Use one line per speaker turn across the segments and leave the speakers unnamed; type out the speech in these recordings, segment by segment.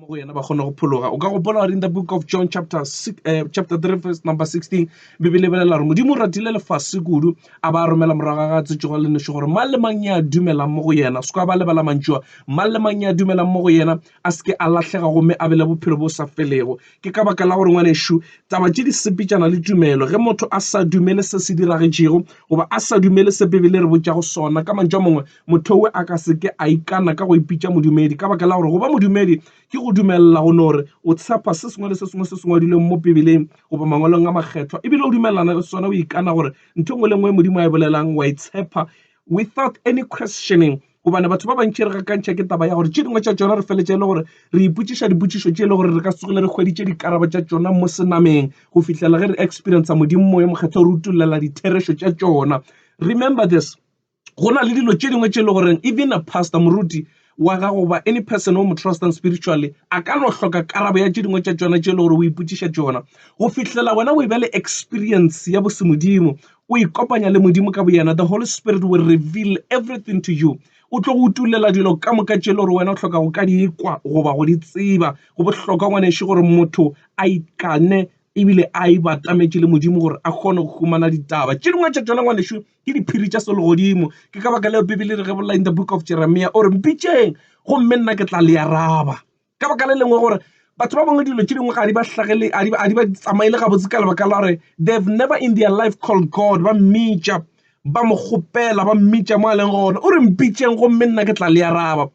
mo go yena ba kgona go phologa o ka gopola in the book of john chapter, uh, chapter 3 verse number 16 bibele e bolela gore modimo o ratile lefase kudu a ba romela morago ga ga tsetsogo le nešo gore mang le mang ya dumelang mo go yena se ka ba lebala mantšua mang le mang ya dumelang mo go yena a se ke a lahlega gomme a bele bophelo bo sa felego ke ka baka la gore ngwanešu taba tše di sepetšana le tumelo ge motho a sa dumele se se diragetšego goba a sa dumele se bibele re botšago sona ka mantšu a mangwe Mothowe a ka se ke a ikana ka go ipitša modumedi, ka baka la gore go ba modumedi ke go dumelela go nore o tshepa se sengwe le se sengwe se se ngwadilweng mo Pibeleng goba Mangwalong a Makgethwa e bile o dumelelana le sona, o ikana gore ntho e nngwe le nngwe Modimo a e bolelang o a e tshepa without any questioning. Gobane batho ba bantši re gakantšha ke taba ya gore tše dingwe tša tšona re feletša e le gore re ipotšiša dipotšišo tše e le gore re ka se tsoge re hweditše dikarabo tša tšona mo senameng go fihlela ge re experienca Modimo Moya Mokgethwa o re utolela ditherešo tša tšona. Remember this. Go na le dilo tše dingwe tše e le goreng even a pastor, moruti, wa gago goba any person o mo trustang spiritually a ka no hloka karabo ya tše dingwe tša tšona tše e le gore o ipotšiša tšona go fihlela wena o e ba le experience ya bosemodimo o ikopanya le modimo ka boyena the holy spirit will reveal everything to you o tlo go utulela dilo ka moka tše e le gore wena o hloka go ka di ikwa goba go di tseba go bohlokwa ngwaneše gore motho a ikane ebile a e batametše le modimo gore a kgone go humana ditaba tše dingwe tša tšona ngwaneše Ke diphiri tša selegodimo. Ke ka baka leo Bibele e re gebolela in the book of Jeremiah, o re, Mpitšeng, gomme nna ke tla le araba. Ka baka le lengwe gore batho ba bangwe dilo tše dingwe ga di ba hlagele a di ba tsamaele gabotse ka lebaka la gore they have never in their life called god ba mmitša ba mo kgopela ba mmitša mo a leng gona o re mpitšeng gomme nna ke tla le araba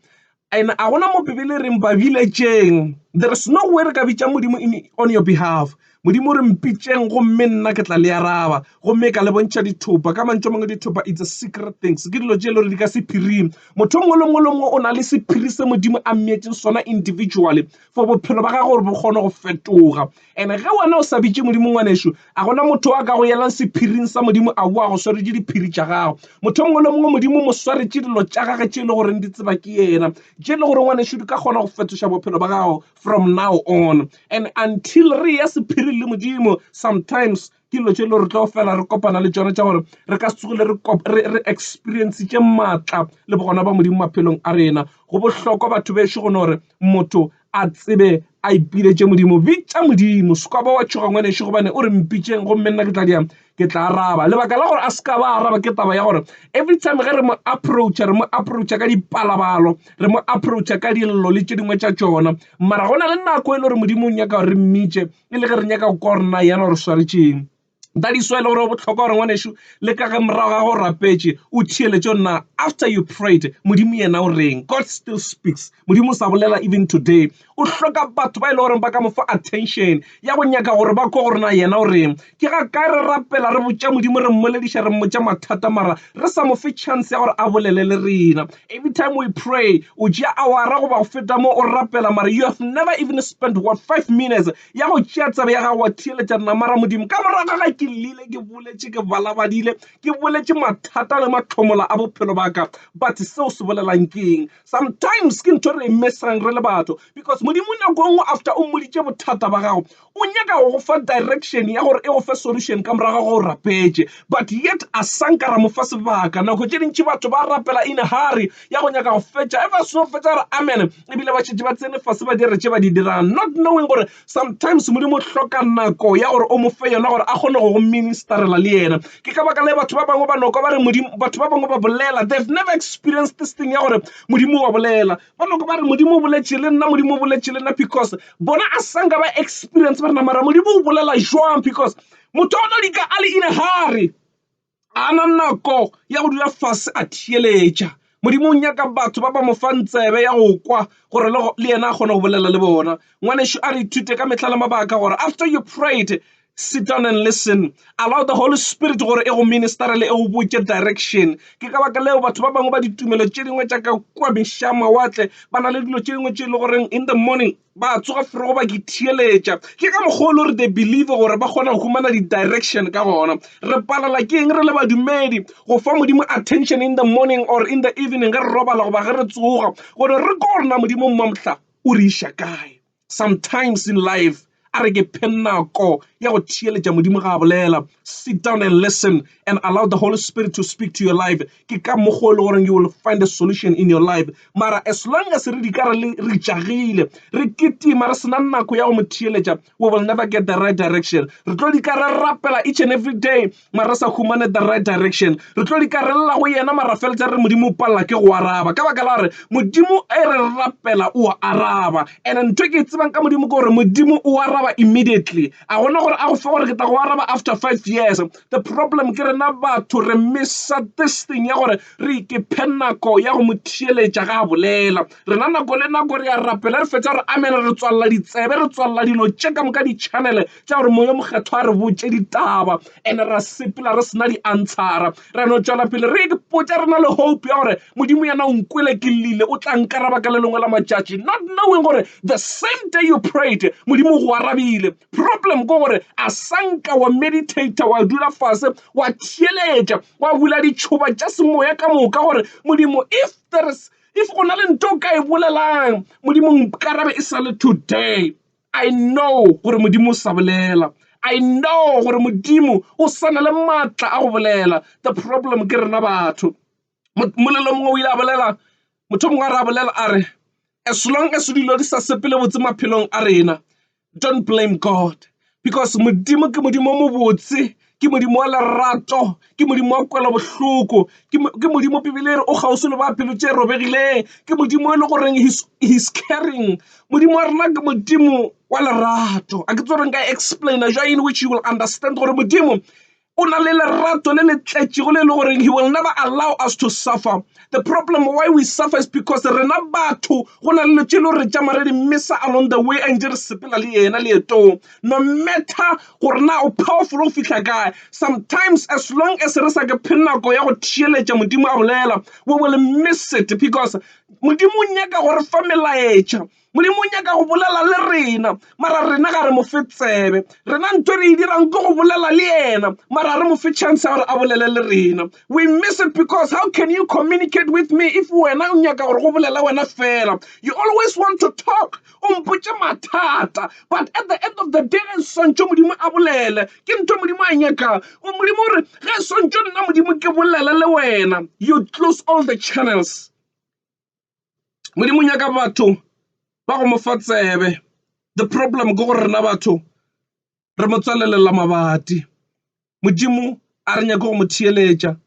And a gona mo Bibele e reng ba biletšeng. There is no way re ka bitša Modimo in on your behalf. Modimo o re mpitšeng gomme nna ke tla le araba. Gomme ka le bontšha dithopa. Ka mantšu a mangwe dithopa it's a secret things. Ke dilo tše e le gore di ka sephiring. Motho o mongwe le mongwe le mongwe o na le sephiri se Modimo a mmeetšeng sona individually for bophelo ba gagwe gore bo kgone go fetoga. And ge wena o sa bitše Modimo, ngwanešu, a go na motho yo a ka go yelang sephiring sa Modimo a boa go swaretše diphiri tša gago. Motho yo mongwe le yo mongwe Modimo o mo swaretše dilo tša gage tše e le goreng di tseba ke yena, tše e le gore ngwanešu di ka kgona go fetoša bophelo ba gago from now on. And until re eya sephiring le Modimo, sometimes ke dilo tše e le gore re tlo fela re kopana le tšona tša gore re ka se tsogile re experiencetše maatla le bogona ba Modimo maphelong a rena. Go bohlokwa batho bešo go gore motho a tsebe a ipiletše Modimo. Bitša Modimo, se ka ba wa tšhoga ngwanešu gobane o re mpitšeng gomme nna ke tla diang ke tla araba. Lebaka la gore a se ka ba araba ke taba ya gore every time ge re mo approacha re mo approacha ka dipalabalo, re mo approacha ka dillo le tše dingwe tša tšona. Mara go na le nako e le gore Modimo o nyaka gore re mmitše e le ge re nyaka go kwa gore na yena o re swaretšeng. That is why e le gore go bohlokwa gore ngwanešu le ka ge morago ga go rapetše o theeletše na after you prayed modimo yena o reng. God still speaks, modimo o sa bolela even today. O hloka batho ba e le gore ba ka mo fa attention ya go nyaka gore ba kwa gore na yena o reng. Ke ga kae re rapela, re botša Modimo, re mmolediša, re mmotša mathata, mara re sa mo fe chance ya gore a bolele le rena. Every time we pray, o tšea awara goba go feta mo o rapela, mara you have never even spent what five minutes ya go tšea tsebe ya gago wa theeletša nna, mara Modimo ka morago ga ke lile ke boletše, ke balabadile, ke boletše mathata le matlhomola a bophelo ba ka, but seo se bolelang keng? Sometimes ke ntho re e missang re le batho, because Modimo nako e nngwe after o mmoditše bothata ba gago, O nyaka go go fa direction ya gore e go fe solution ka morago ga ge o rapetše. But yet a sa nka ra mo fa sebaka. Nako tše dintši batho ba rapela in a hurry ya go nyaka go fetša. Ever a seno fetša a re amen ebile ba šetše ba tsene fase ba dira tše ba di dirang not knowing gore sometimes Modimo o hloka nako ya gore o mo fe yona gore a kgone go go ministerela le yena. Ke ka baka la batho ba bangwe ba no kwa ba re Modimo, batho ba bangwe ba bolela they've never experienced this thing ya gore Modimo o a bolela. Ba bangwe ba re, Modimo o boletše le nna, Modimo o boletše le nna, because bona a sanka ba experience ba rena, mara Modimo o bolela jwang? Because motho o no dika a le in a hurry, a na nako ya go dula fase a theeletša. Modimo o nyaka batho ba ba mo fang tsebe ya go kwa gore le yena a kgone go bolela le bona. Ngwanešu a re ithute ka mehla le mabaka gore after you prayed, Sit down and listen. Allow the Holy Spirit gore e go ministerele, e go botše direction. Ke ka baka leo batho ba bangwe ba ditumelo tše dingwe tša ka kua mešaa mawatle ba na le dilo tše dingwe tše e le goreng in the morning ba tsoga forogo ba ke theeletša. Ke ka mokgwa o le gore they believe gore ba kgona go humana di-direction ka gona. Re palela ke eng re le badumedi go fa Modimo attention in the morning or in the evening ge re robala goba ge re tsoga gore re ko gore na Modimo mmamhla o re iša kae. Sometimes in life, a re ke phe nako ya go theeletša Modimo ga a bolela. Sit down and listen and allow the Holy Spirit to speak to your life. Ke ka mokgwa o le goreng you will find a solution in your life. Mara as long as re di ka re le re tšagile, re kitima re sena nako ya go mo theeletša, we will never get the right direction. Re tlo di ka re rapela each and every day, Mara re sa humane the right direction. Re tlo likarelela go yena mara feletsa re Modimo o palela ke go araba. Ka baka la gore Modimo e re rapela o a araba. And ntho ke e tsebang ka Modimo ke gore Modimo o araba immediately. A gona gore a go fe gore ke tla go araba after five years. The problem ke rena batho re missa this thing ya gore re ikephe nako ya go mo theeletša ga a bolela. Rena nako le nako re a rapela re fetša re amena re tswalela ditsebe re tswalela dilo tše ka moka di-channel Tša gore Moya o Mokgethwa a re botše ditaba, ene ra sepela re sena diantshara. Ra no tšwela pele re ipotša, re na le hope ya gore Modimo yena o nkwele ke llile, o tla nkaraba ka le lengwe la matšatši. Not knowing gore the same day you prayed, Modimo o go arabile. Problem ke gore a sa nka wa meditator, wa dula fase, wa theeletša, wa bula ditšhoba tša semoya ka moka gore, Modimo, if there is, if go na le nto o ka e bolelang, Modimo nkarabe e sa le today. I know gore Modimo o sa bolela. I know gore Modimo o sa na le maatla a go bolela. The problem ke rena batho. Molelo mongwe o ile a bolela, motho mongwe a re a bolela a re, as long as dilo di sa sepele botse maphelong a rena, don't blame God because Modimo ke Modimo o mobotse. ke Modimo wa lerato, ke Modimo wa kwelobohloko, ke Modimo Bibele e re o kgauswi le ba pelo tše robegileng, ke Modimo e le goreng he's caring. Modimo wa rena ke Modimo wa lerato. A ke tsebe gore nka explain-a jwang in which you will understand gore Modimo o na le lerato le le tletšego le e le goreng he will never allow us to suffer. The problem why we suffer is because rena batho go na le dilo tše e le gore re tšama re di missa along the way a ntše re sepela le yena leetong. No matter gore na o powerful go fihla kae, sometimes as long as re sa ke phe nako ya go theeletša Modimo a bolela, we will miss it because Modimo o nyaka go re fa melaetša. Modimo o nyaka go bolela le rena, mara rena ga re mo fe tsebe. Rena nto re e dirang ke go bolela le yena, mara ga re mo fe chance ya gore a bolele le rena. We miss it because how can you communicate with me if wena o nyaka gore go bolele wena fela? You always want to talk o mpotše mathata but at the end of the day ge swantšo modimo a bolele ke ntho modimo a nyakang modimo o re ge swantšo nna modimo ke bolele le wena you close all the channels modimo o nyaka batho ba go mo fa tsebe the problem ke gore rena batho re mo tswalelela mabati. Modimo a re nyake go mo theeletša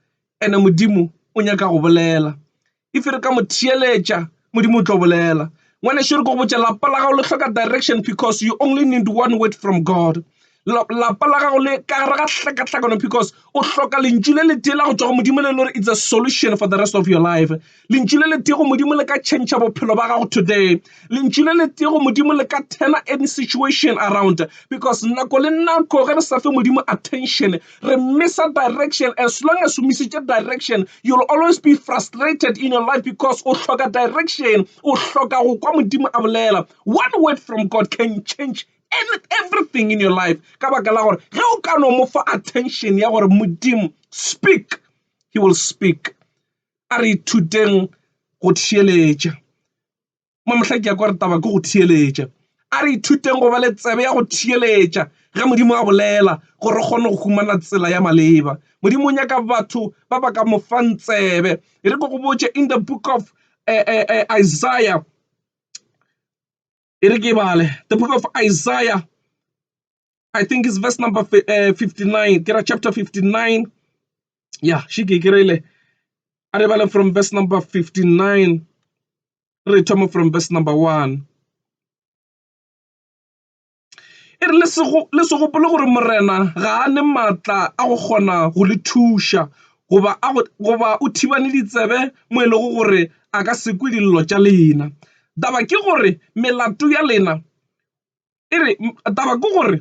ene Modimo o nyaka go bolela. If re ka mo theeletša Modimo o tlo bolela. Ngwaneso re ko botša lapa la gago le hloka direction because you only need one word from God. Lapa la gago le ka gare ga hlakahlakano because o hloka lentšu le le tee la go tšwa go Modimo le le gore it's a solution for the rest of your life. Lentšu le letee go Modimo le ka tšhentšha bophelo ba gago today. Lentšu le letee go Modimo le ka turner any situation around because nako le nako ge re sa fe Modimo attention re missa direction. As long as o misitše direction you'll always be frustrated in your life because o hloka direction, o hloka go kwa Modimo a bolela. One word from God can change and everything in your life ka baka la gore ge o ka no mo fa attention ya gore Modimo speak, he will speak. A re ithuteng go theeletša. Mo mohla ke ya kwa re taba ke go theeletša. A re ithuteng go ba le tsebe ya go theeletša ge Modimo a bolela gore re kgone go humana tsela ya maleba. Modimo o nyaka batho ba ba ka mo fang tsebe. E re ke go botše in the book of Isaiah, e re ke bale, the book of Isaiah I think it's verse number eh, 59. Get a chapter 59. Yeah, she kikirele. Aribale from verse number 59. Retomo from verse number 1. e re le se gopole gore morena ga a ne maatla a go kgona go le thuša goba o thibane ditsebe mo e lego gore a ka sekwe dillo tša lena taba ke gore melato ya lena e re, Taba ke gore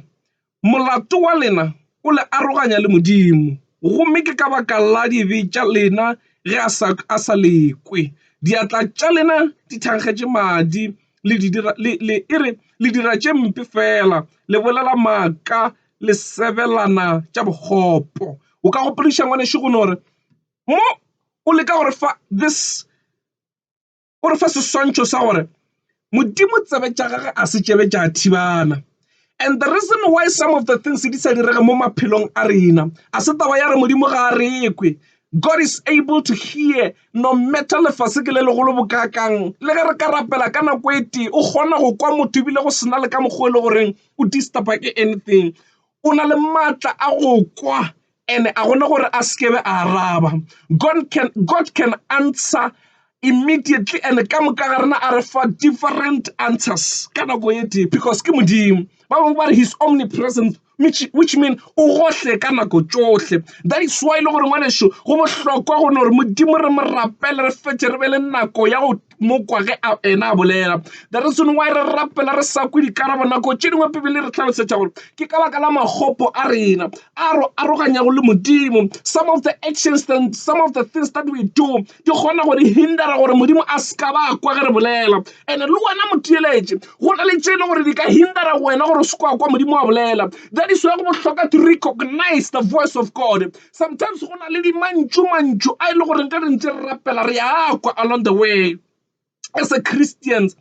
molato wa lena o le aroganya le Modimo, gomme ke ka baka la dibe tša lena ge a sa, a sa le kwe. Diatla tša lena di thankgetše madi, le di dira, le, le, e re, le dira tše mpe feela, le bolela maaka, le sebelana tša bokgopo. O ka gopodiša, ngwanešu, go no re, Mo o leka go re fa this. o re fa seswantšho sa gore Modimo tsebe tša gagwe a se tšebe tša thibana. And the reason why some of the things di sa direge mo maphelong a rena a se taba ya re Modimo ga a rekwe. God is able to hear no matter lefase ke le legolo bokakang le ge re ka rapela ka nako e tee o kgona go kwa motho ebile go sena le ka mokgwa e le goreng o disturba ke anything o na le maatla a go kwa And a gona gore a se kebe a araba. God can, God can answer immediately and ka moka ga rena a re fa different answers ka nako e tee because ke modimo ba bangwe ba re his omnipresent which, which mean o gohle ka nako tšohle that is why e le gore ngwaneso go bohlokwa gone gore modimo re mo rapele re fetše re be le nako ya go mo kwa ge a ena a bolela the reason why re rapela re sa kwe dikarabo nako tše dingwe pebele re tlhalosetša gore ke ka baka la magopo a rena a ro aroganyago le modimo some of the actions and some of the things that we do di kgona gore hindera gore modimo a se ka ba kwa ge re bolela and-e le wena motheeletše go na le tše e le gore di ka hindera wena gore o se kwa kwa modimo wa bolela that is why go bohlokwa to recognize the voice of god Sometimes go na le di mantšu mantšu a e le gore nka re ntse re rapela re ya kwa along the way as a Christians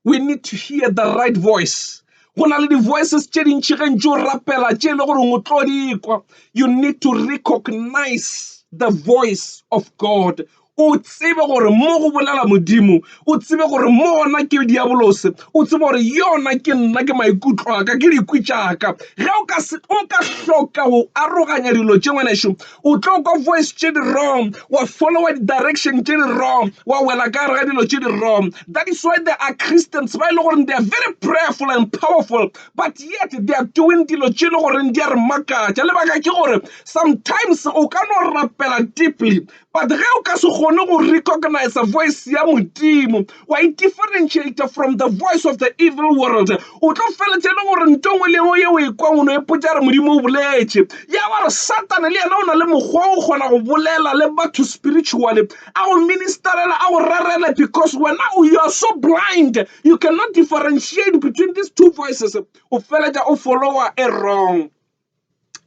we need to hear the right voice go na le di voices tše dintši ge ntše o rapela tše e le gore o tlo di kwa you need to recognize the voice of God o tsebe gore mo go bolela modimo o tsebe gore mo gona ke diabolose o tsebe gore yona ke nna ke maikutlo a ka ke dikwi tšaka ge o ka se o ka hloka go aroganya dilo tše ngwaneso o tlo kwa voice tše di wrong wa followa di-direction tše di wrong wa wela ka gare ga dilo tše di wrong that is why there are christians ba e le gore they are very prayerful and powerful but yet they are doing dilo tše e le goreng di a re makatša lebaka ke gore sometimes o ka no rapela deeply But ge o ka se kgone go recognize voice ya Modimo, wa e differentiate from the voice of the evil world, o tlo feletše le gore nto ngwe le yengwe yeo e kwang o no e potša re Modimo o boletše. Ya ba re Satane le yena o na le mokgwa o kgona go bolela le batho spiritually, a go ministerele, a go rerele because wena you are so blind, you cannot differentiate between these two voices, o feletša o follower e wrong.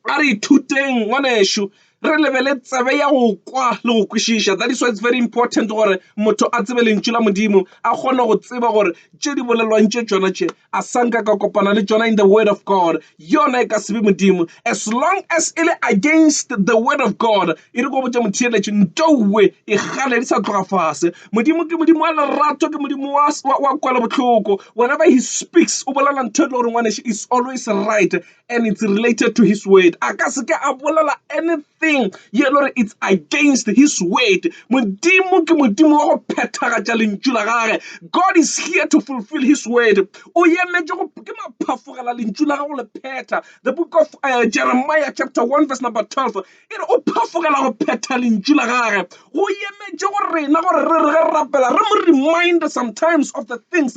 A re ithuteng ngwanešu, re lebele tsebe ya go kwa le go kwešiša. That is why it's very important gore motho a tsebe lentšu la Modimo, a kgone go tseba gore tše di bolelwang tše tšona tše a sa nka ka kopana le tšona in the word of God. Yona e ka se be Modimo as long as e le against the word of God. E re ko botša motheeletši ntowe e kgale di sa tloga fase. Modimo ke Modimo wa lerato, ke Modimo wa, wa, wa kwela bohloko. Whenever he speaks o bolela ntho e le gore ngwanešu is always right. and it's related to his word. A ka se ke a bolela anything ye le gore it's against his word. Modimo ke Modimo wa go phethagatša lentšu la gage. God is here to fulfill his word. O emetše go ke maphafogela lentšu la gago le phetha. The book of uh, Jeremiah chapter 1 verse number 12 e re o phafogela go phetha lentšu la gage. Go emetše go rena gore re re ge rapela re mo remind sometimes of the things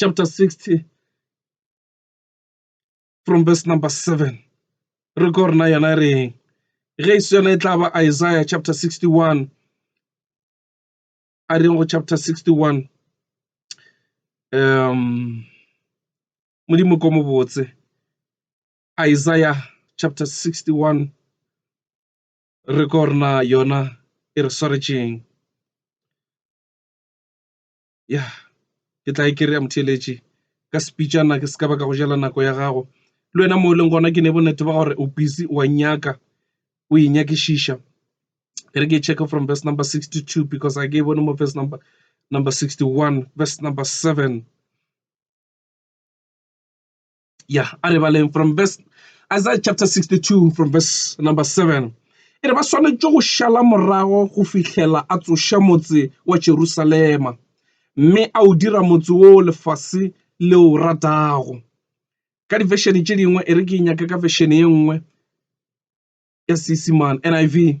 chapter 60 from verse number 7 re ko rena yona re eng ge e se yona e tla ba isaiah chapter 61 a reng go chapter 61 um modimo ko mobotse isaiah chapter 61 re ko rena yona e re swaretšeng ya ke tla e kry-a motheeletši ka sepitšana ke se ka ba ka go jela nako ya gago le wena mo e leng gona ke ne bonnete ba gore o busy wa nyaka o e nyakišiša e re ke e check from verse number 62 because a ke e bone mo verse number number 61 verse number 7 Yeah, a re baleng from verse Isaiah chapter 62 from verse number 7. E re ba swanetše go šala morago go fihlela a tsoša motse wa Jerusalema mme a o dira motse wo lefase le o ratago. Ka difešene tše dingwe e re ke nyaka ka fešene ye nngwe ya Seesimane NIV.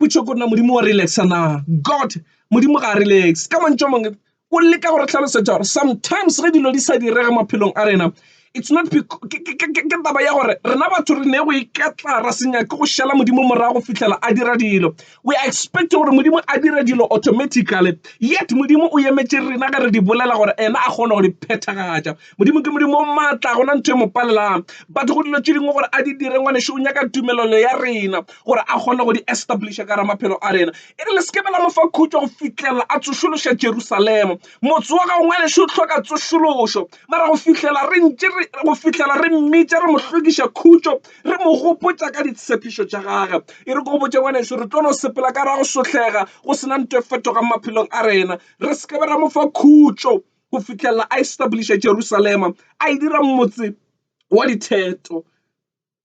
Pušo ke gore na Modimo wa relax-a na. God, Modimo ga a relax-e. Ka mantšu a mangwe, o leka go re hlalosetša gore sometimes ge dilo di sa direge maphelong a rena, it's not ke taba ya gore rena batho re ne go iketla, ra se nyake go šala Modimo morago go fihlela a dira dilo. We are expecting gore Modimo a dire dilo automatically, yet Modimo o emetše rena ge re di bolela gore yena a kgone go di phethagatša. Modimo ke Modimo o maatla, gona ntho e mo palelang. Batho go dilo tše dingwe gore a di dire, ngwanešu, o nyaka tumelelo ya rena gore a kgone go di establisha ka gara maphelo a rena. E re le se ke be la mo fa khutšo go fihlelela a tsošološa Jerusalema. Motse wa gago, ngwanešu, o hloka tsošološo. Mara go fihlela re ntše re, go fihlela re mmitša, re mo hlokiša khutšo, re mo gopotša ka ditshepišo tša gagwe. E re ke go botše, ngwanešu, re tlo no sepela ka gara go sohlega go se na nto e fetogang maphelong a rena. Re se ke be ra mo fa khutšo. go fihlelela a establiša Jerusalema, a e dira motse wa ditheto.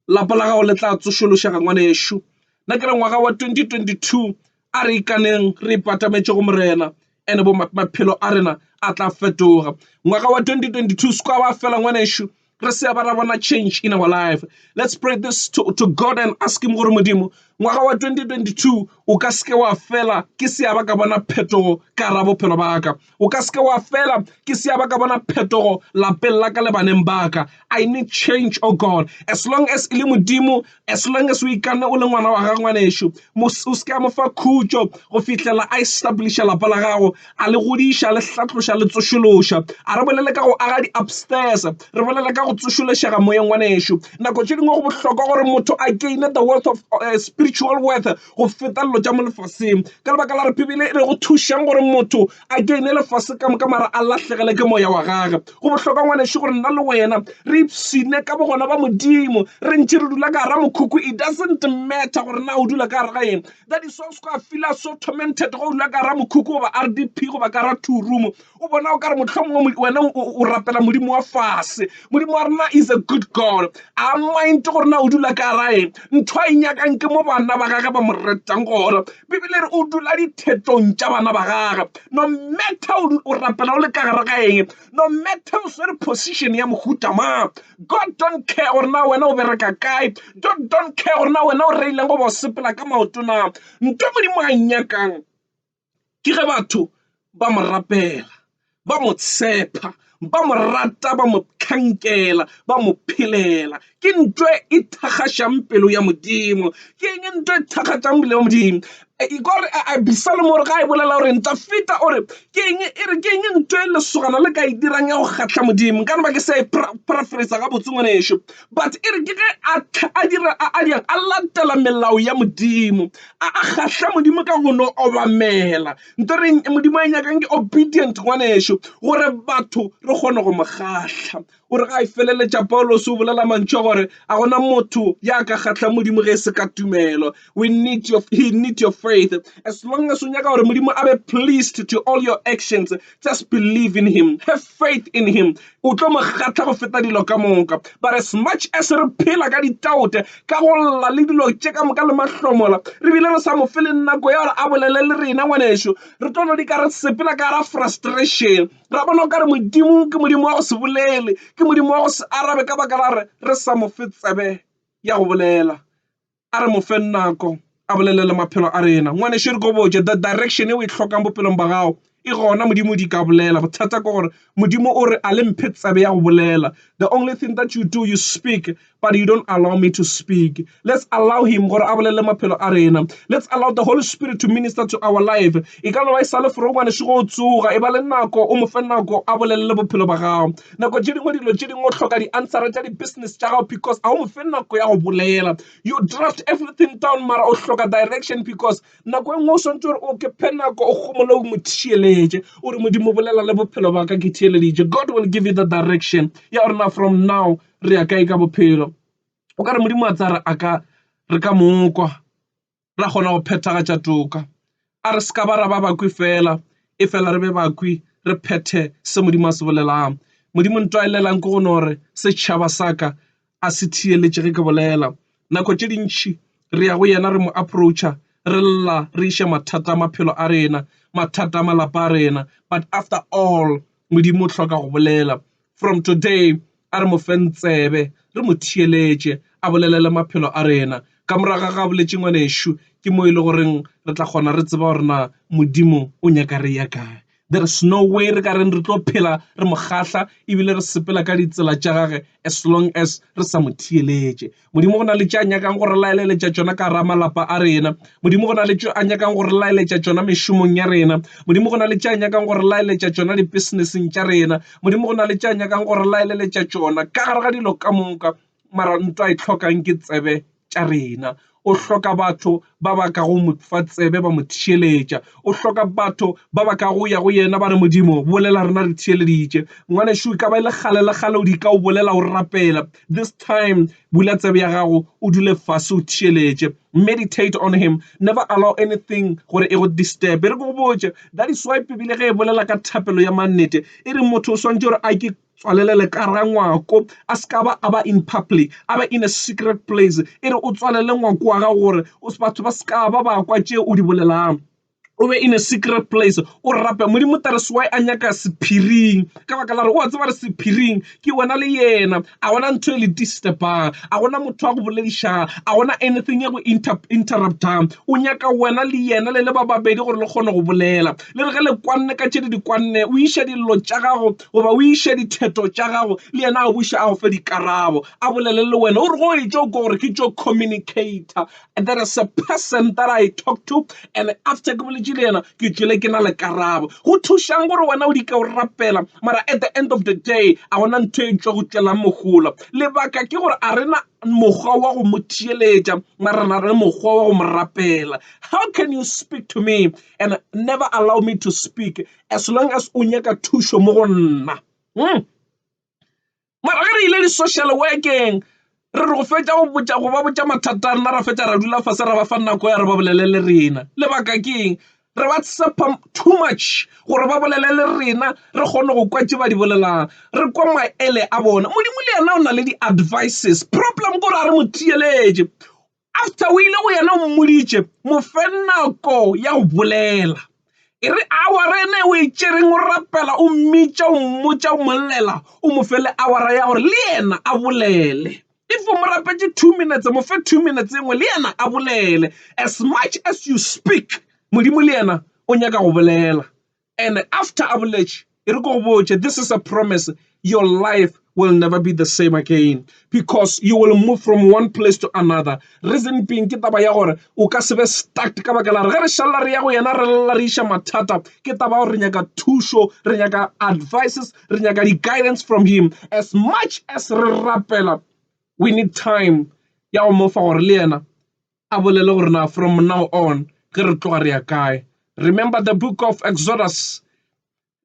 Lapa la gago le tla tsošološega ngwanešu. Nna ke re ngwaga wa 2022 a re ikaneng re ipatametše go Morena ene bo maphelo a rena a tla fetoga. Ngwaga wa 2022 se kwa ba fela ngwanešu. re se ba ra bona change in our life let's pray this to, to god and ask him gore modimo ngwaga wa 2022 o ka seke wa fela ke seaba ka bona phetogo ka ra bophelo ba ka o ka seke wa fela ke seaba ka bona phetogo lapeng la ka le baneng ba ka i need change oh god as long as e le modimo as long as o ikane o le ngwana wa ga ngwanešu o se ka mo fa khutšo go fihlela a establish lapa la gago a le godiša le hlatloša le tsošološa a re bolele ka go aga di-upstairs re bolele ka go tsošološega moyeng ngwanešu nako tše dingwe go bohlokwa gore motho a gaine the worth of spiritual worth go feta dilo tša mo lefaseng. Ka lebaka la re Bibele e re go thušang gore motho a gaine lefase ka moka mara a lahlegele ke moya wa gage. Go bohlokwa ngwanešu gore nna le wena re ipshine ka bogona ba Modimo re ntše re dula ka gara mokhukhu. It doesn't matter gore na o dula ka gare ga eng. That is why o se ka feel-a so tormented ge o dula ka gara mokhukhu goba RDP goba ka gara two room. o bona o ka re mohlomongwe wena o rapela modimo wa fase modimo wa rena is a good god a mind gore na o dula ka rae ntho a e nyakang ke mo bana ba gage ba mo retang gore bibele re o dula dithetong tša bana ba gage no matter o rapela o le ka gare ga eng no matter o swere position ya mohuta ma god don't care gore na wena o bereka kae don't don't care gore na wena o reileng go ba o sepela ka maotona nto modimo a e nyakang ke ge batho ba mo rapela, ba mo tshepa, ba mo rata, ba mo hlankela, ba mo phelela. Ke ntho e thakgašang pelo ya Modimo. Ke eng ntho e thakgatšang pelo ya Modimo? Gore Abisalomo o re ga e bolela gore Dafida o re ke eng, e re ke eng ntho e lesogana le ka e dirang ya go kgahla Modimo? Nka re ba ke sa e paraphrase-a gabotse ngwanešu. But e re ke ge a tla, a dira a, a dirang, a latela melao ya Modimo, a, a kgahla Modimo ka go no obamela. Nto re eng? Modimo a nyakang ke obedient, ngwanešu, gore batho re kgone go mo kgahla. O re ga e feleletša, Paulose o bolela mantšu a gore a gona motho ya ka kgahlang Modimo ge e se ka tumelo. We need your, he need your faith. As long as unyaka gore Modimo abe pleased to all your actions, just believe in him. Have faith in him. O tlo mo kgatla go feta dilo ka moka. But as much as re phela ka ditaute, ka go lla le dilo tše ka moka le mahlomola, re bile re sa mo fe le nako ya gore a bolele le rena ngwanešu. Re tlo no di ka re sepela ka ra frustration. Ra bona o ka re Modimo ke Modimo wa go se bolele, ke Modimo wa go se arabe ka baka la re re sa mo fe tsebe ya go bolela. A re mo feng nako a bolelele maphelo a rena. Ngwanešu re ko botše, the direction e o e hlokang bophelong ba gago e gona, Modimo o di ka bolela. Bothata ke gore Modimo o re a le mphe tsebe ya go bolela. The only thing that you do, you speak, but you don't allow me to speak. Let's allow him gore a bolelele maphelo a rena. Let's allow the Holy Spirit to minister to our life. E ka no ba e sa le foro ngwanešu go tsoga, e ba le nako, o mo fe nako a bolelele bophelo ba gago. Nako tše dingwe dilo tše dingwe o hloka di answera tša di business tša gago because a o mofe nako ya go bolela. You draft everything down mara o hloka direction because nako e nngwe o swantse gore o ke phe nako o gomole o mo theeletše o re modimo bolela le bophelo ba ka ke theeleditše God will give you the direction ya gore na from now re ya kae ka bophelo. O ka re modimo a tsaya re a ka re ka mokwa. ra kgona go phethagatša toka. A re se ka ba ra ba bakwi feela, e fela re be bakwi re phethe se Modimo a se bolelang. Modimo nto a e lelang ke go no re setšhaba sa ka a se thiyeletše ge ke bolela. Nako tše dintšhi re ya go yena re mo approacha re lla re iše mathata a maphelo a rena, mathata a malapa a rena. But after all Modimo o hloka go bolela. From today, a re mo feng tsebe, re mo theeletše, a bolelele maphelo a rena. Ka morago ga ga boletše ngwanešu, ke mo e le goreng re tla kgona re tseba gore na Modimo o nyaka re ya kae. There is no way re ka reng re tlo phela re mo kgahla ebile re sepela ka ditsela tša gage as long as re sa mo theeletše. Modimo go na le tše a nyakang go re laeleletša tšona ka gara malapa a rena. Modimo go na le tše a nyakang go re laeletša tšona mešomong ya rena. Modimo go na le tše a nyakang go re laeletša tšona dipeseneseng tša rena. Modimo go na le tše a nyakang go re laeleletša tšona ka gare ga dilo ka moka. Mara nto a e tlhokang ke tsebe tša rena. O hloka batho ba ba ka go mo fa tsebe ba mo theeletša. O hloka batho ba ba ka go ya go yena ba re, Modimo, bolela rena re theeleditše. Ngwanešu, e ka ba e le kgale le kgale o di ka o bolela o rapela. This time, bula tsebe ya gago, o dule fase o theeletše. Meditate on Him. Never allow anything gore e go disturbe. Re ke go botše, that is why Bibele ge e bolela ka thapelo ya mannete, e re motho o swantše gore a ke Tswalele le ka ra ngwako, a se ka ba a ba in public, a be in a secret place. E re o tswalele ngwako wa gago gore batho ba se ka ba ba kwa tše o di bolelago. O be in a secret place, o rape. Modimo tla re se why a nyaka sephiring, ka baka la gore o a tseba gore sephiring ke wena le yena. A gona ntho e le disturb-ang, a gona motho wa go boledišang, a gona anything e go interrupt-ang. O nyaka wena le yena le le ba babedi gore le kgone go bolela. Le re ge le kwanne ka tše le di kwanne, o iša dillo tša gago goba o iše ditheto tša gago le yena a buše a go fe dikarabo, a bolele le wena. O re go e tšo kwa gore ke tšo communicator, there is a person that I talk to and after ke boletše le yena ke tšwele ke na le karabo. Go thušang gore wena o di ka o rapela mara at the end of the day a gona ntho e tšwa go tšwelang mohola. Lebaka ke gore a rena mokgwa wa go mo theeletša mara re na le mokgwa wa go mo rapela. How can you speak to me and never allow me to speak as long as o nyaka thušo mo go nna hmm. mara ge re ile di-social workeng re re go fetša go botša go ba botša mathata a rena ra fetša ra dula fase ra ba fa nako ya re ba bolele le rena lebaka ke eng re ba tshepa too much gore ba bolele le rena re kgone go kwa tse ba di bolelang re kwa maele a bona modimo le yena o na le di-advices problem kore a re mo theeletše After o ile go yena o mmoditše mo fe nako ya go bolela e re awara ene o e tšereng o rapela o mmitša o mmotša o mollela o mo fe le awara ya gore le yena a bolele if o mo rapetše two minutes mo fe two minutes engwe le yena a bolele as much as you speak modimo le yena o nyaka go bolela and after a boletše e re ko botše this is a promise your life will never be the same again because you will move from one place to another reason being ke taba ya gore o ka se be stuck ka baka la re ge re šalela re ya go yena re lela re iša mathata ke taba gore re nyaka thušo re nyaka advices re nyaka di-guidance from him as much as re rapela we need time ya go mofa gore le yena a bolele gore na from now on ge re tloga re ya kae remember the book of exodus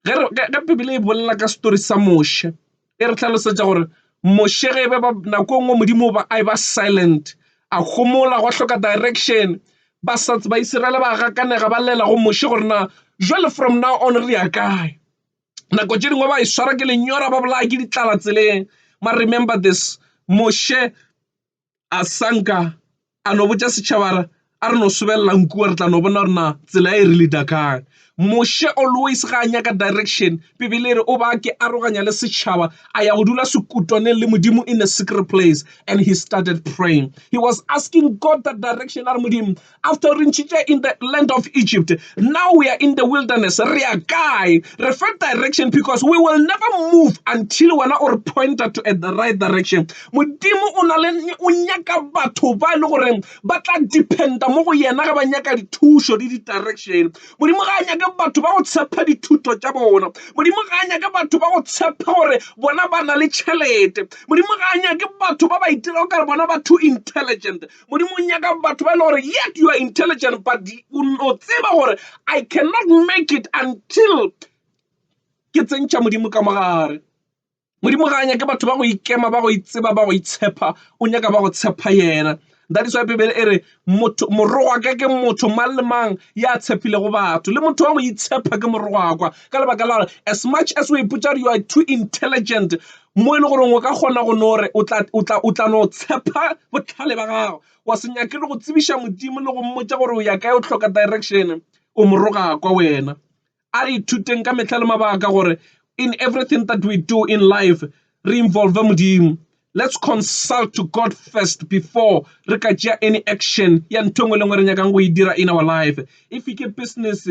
ge bibele e bolela ka story sa moshe e re tlhalosetša gore moshe ge e be ba nako e nngwe modimo ba a e ba silent a gomola go hloka direction ba sa ba isiraele ba gakanega ba lela go moshe gore na jwale from now on re ya kae nako tše dingwe ba e swara ke lenyora ba bolaya ke ditlala tseleng ma remember this moshe a sanka a no botša setšhaba re a re no sobelela nku wa re tla no bona gore na tsela e re leader kang. Moshe always ga a nyaka direction bibele e re o ba ke aroganya le setšhaba a ya go dula sekutwaneng le modimo in a secret place and he started praying he was asking God that direction a re modimo After re ntšhitše in the land of Egypt, now we are in the wilderness. Re ya kae? Re fa direction because we will never move until wena o re pointer to at the right direction. Modimo o na le o nyaka batho ba e le goreng ba tla dependa mo go yena ge ba nyaka dithušo le di-direction. Modimo ga a nyake batho ba go tshepha dithuto tša bona. Modimo ga a nyake batho ba go tshepha gore bona ba na le tšhelete. Modimo ga a nyake batho ba ba itirago ka re bona ba too intelligent. Modimo o nyaka batho ba e le gore yet you are intelligent but o no tseba gore I cannot make it until ke tsentšha Modimo ka mogare. Modimo ga a nyake batho ba go ikema ba go itseba ba go itshepa o nyaka ba go tshepa yena. That is why Bibele e re motho morogwaka ke motho mang le mang ya tshepilego batho le motho wa go itshepa ke morogwakwa ka lebaka la gore as much as o ipotsa gore you are too intelligent Mo e le goreng o ka kgona go no re o tla no tshepa bohlale ba gago, wa se nyake le go tsebiša Modimo le go mmotša gore o ya kae, o hloka direction, o mo roga kwa wena. A re ithuteng ka mehla le mabaka gore in everything that we do in life re involve Modimo. Let's consult to God first before re ka tšea any action ya ntho e nngwe le e nngwe e re nyakang go e dira in our life. If ke business,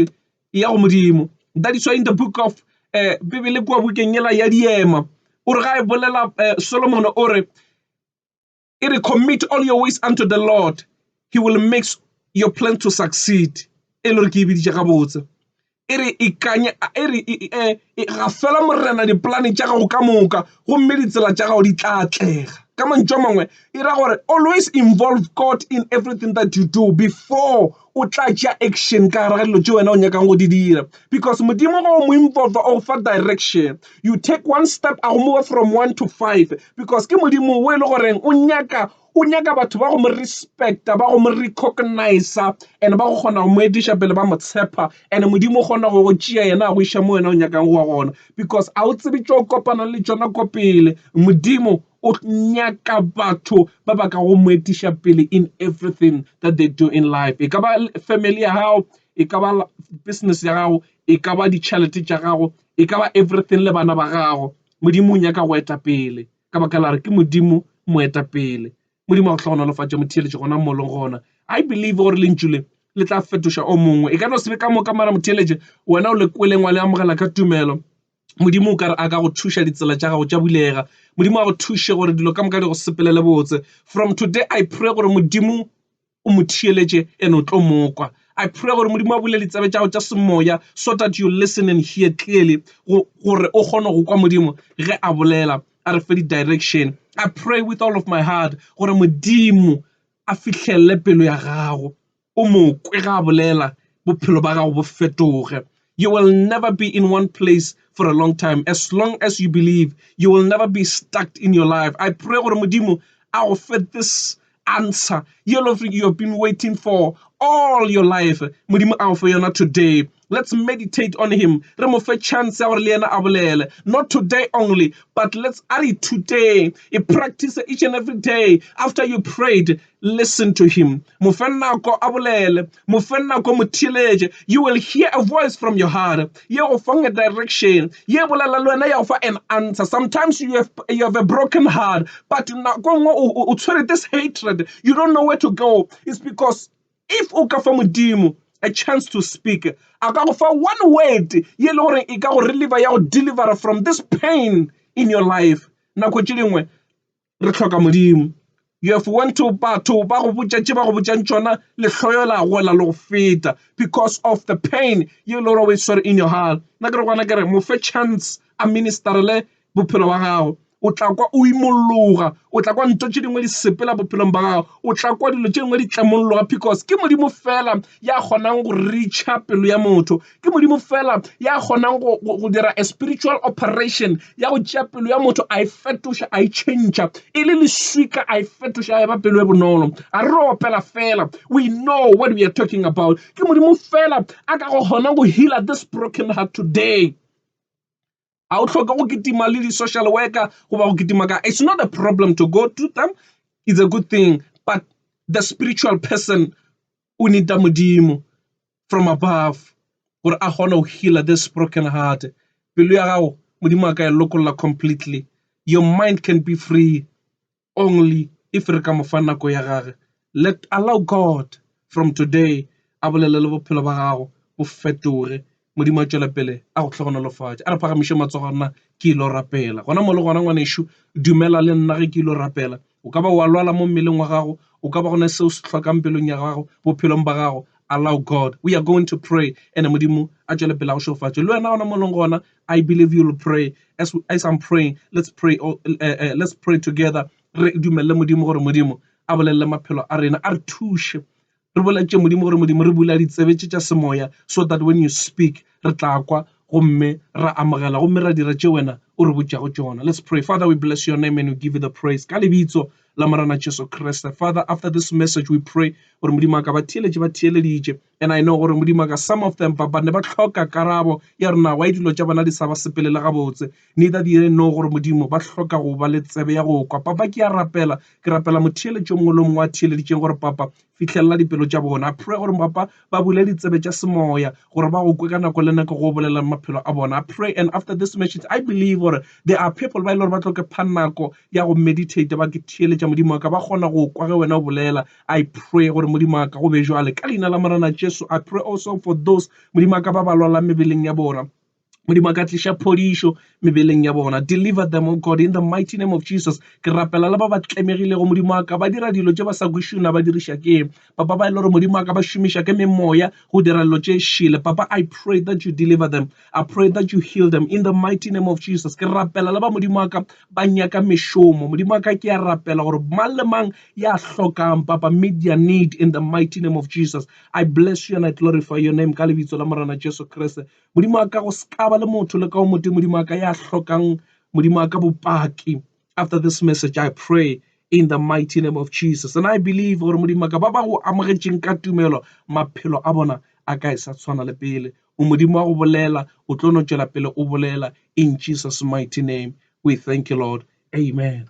e ya go Modimo. That is why in the book of Bibele kua bukeng ela ya Diema, o re ga e bolela Solomon o re, e re commit all your ways unto the Lord, he will make your plan to succeed. E le gore ke e biditše gabotse. E re ikanye, e re ga fela morena dipolane tša gago ka moka, gomme ditsela tša gago di tla atlega. Ka mantšu a mangwe, e ra gore always involve God in everything that you do before. o tla tšea action ka gare ga dilo tše wena o nyakang go di dira. Because Modimo ge o mo involva o go fa direction, you take one step a go move from one to five because ke Modimo o e le goreng o nyaka o nyaka batho ba go mo respect-a, ba go mo recognize-a and ba go kgona go mo etiša pele ba mo tshepa. And Modimo o kgona go go tšea yena a go iša mo wena o nyakang go ya gona because a o tsebe tše o kopanang le tšona ko pele, Modimo O nyaka batho ba ba ka go mo etiša pele in everything that they do in life. E ka ba family ya gago, e ka ba business ya gago, e ka ba ditšhelete tša gago, e ka ba everything le bana ba gago. Modimo o nyaka go eta pele ka baka la gore ke Modimo moetapele. Modimo a go hlogonolofatše motheeletši gona mo o leng gona. I believe gore lentšu le le tla fetoša o mongwe. E ka no se be ka moka mara motheeletši wena o le kweleng wa le amogela ka tumelo. Modimo o ka re a ka go thuša ditsela tša gago tša bulega. Modimo a go thuše gore dilo ka moka di go sepelele botse. From today I pray gore Modimo o mo thiyeletše and o tlo mokwa. I pray gore Modimo a bule ditsebe tša go tša semoya so that you listen and hear clearly gore o kgone go kwa Modimo ge a bolela a re fe di-direction. I pray with all of my heart gore Modimo a fihlelle pelo ya gago. o mo kwe ge a bolela, bophelo ba gago bo fetoge. You will never be in one place for a long time as long as you believe. You will never be stuck in your life. I pray gore Modimo a go fe this answer yellow you have been waiting for all your life. Modimo a go fe yona today. Let's meditate on him, re mo fe chance ya gore le yena a bolele. Not today only, but let's a re ithuteng, e practice each and every day. After you prayed, listen to him. Mo fe nako a bolele, mo fe nako mo theeletše. You will hear a voice from your heart. Ye go fang a direction, ye bolela le wena ya go fa an answer. Sometimes you have, you have a broken heart, but nako nngwe o tshwere this hatred. You don't know where to go. It's because If o ka fa Modimo a chance to speak, a ka go fa one word ye le gore e ka go reliever ya go delivera from this pain in your life. Nako tše dingwe re hloka Modimo. You have went to batho ba go botša tše ba go botšang tšona, lehloyo la gola le go feta because of the pain ye le gore o e swere in your heart. Nna ke re gona ke re mo fe chance a ministerele bophelo ba gago o tla kwa o imologa o tla kwa ntho tše dingwe di sepela bophelong ba gago o tla kwa dilo tše dingwe di tlamolologa because ke modimo fela ya kgonang go reacha pelo ya motho ke modimo fela ya kgonang go dira a spiritual operation ya go tšea pelo ya motho a e fetoša a e change e le leswika a e fetoša a e ba pelo e bonolo a re opela fela we know what we are talking about ke modimo fela a ka go kgona go healer this broken heart today ga o tlhoke go kitima le di-social worker goba go kitima ka it's not a problem to go to them it's a good thing but the spiritual person o needa modimo from above gore a kgone go healer this broken heart pelo ya gago modimo a ka e lokolla completely your mind can be free only if re ka mo fa nako ya gage let allow God from today a bolele le bophelo ba gago bo fetoge modimo a tšwela pele a go hlogonolofatša a re phagamiše matsogo nna ke ile rapela gona mo le gona ngwanešo dumela le nna ge ke ile rapela o ka ba wa lwala mo mmeleng wa gago o ka ba gona seo se hlokang pelong ya gago bophelong ba gago allow God we are going to pray ene modimo a tšwele pele a go šofatše le wena gona mo leng gona I believe you'll pray as, we, as I'm praying let's pray all, uh, eh, uh, eh, let's pray together re dumelele modimo gore modimo a bolelele maphelo a rena a re thushe re boletše modimo gore modimo re bula ditsebe tše tša semoya so that when you speak re tla kwa gomme ra amogela gomme ra dira tše wena o re botšago tšona let's pray father we bless your name and we give you the praise ka lebitso la morana jesu kriste father after this message we pray gore modimo a ka ba theeletše ba theeleditše And I know gore Modimo a ka some of them ba ne ba hloka karabo ya gore na why dilo tša bona di sa ba sepelela gabotse. Neither do they know gore Modimo ba hloka go ba le tsebe ya go kwa. Papa, ke a rapela, ke rapela motheeletši o mongwe le o mongwe a theeleditšeng gore Papa, fihlelela dipelo tša bona. I pray gore Papa, ba bule ditsebe tša semoya gore ba go kwe ka nako le nako go o bolelela maphelo a bona. I pray and after this message I believe gore there are people ba e le gore ba tlo ke pha nako ya go meditate ba ke theeletša Modimo wa ka ba kgona go kwa ge wena o bolela. I pray gore Modimo wa ka go be jwale ka leina la Morena Jesu. I pray also for those Modimo wa ka ba ba lwalang mebeleng ya bona. Modimo wa ka tliša phodišo mebeleng ya bona. Deliver them, O God, in the mighty name of Jesus. Ke rapela le ba ba tlemegilego Modimo wa ka ba dira dilo tše ba sa kwešišo na ba diriša ke papa ba e le gore Modimo wa ka ba šomiša ke memoya go dira dilo tše šele. Papa, I pray that you deliver them. I pray that you heal them in the mighty name of Jesus. Ke rapela le ba modimo wa ka ba nyaka mešomo. Modimo wa ka ke a rapela gore mang le mang ya hlokang papa meet their need in the mighty name of Jesus. I bless you and I glorify your name ka lebitso la Morena Jesu Kriste. Modimo wa ka go sekaba le motho le ka o motho modimo wa ka ya hlokang modimo wa ka bopaki. After this message I pray in the mighty name of Jesus. And I believe gore modimo wa ka ba ba go amogetšeng ka tumelo maphelo a bona a ka e sa tshwana le pele. Modimo wa go bolela, o tlo no tšwela pele o bolela in Jesus mighty name we thank you Lord, amen.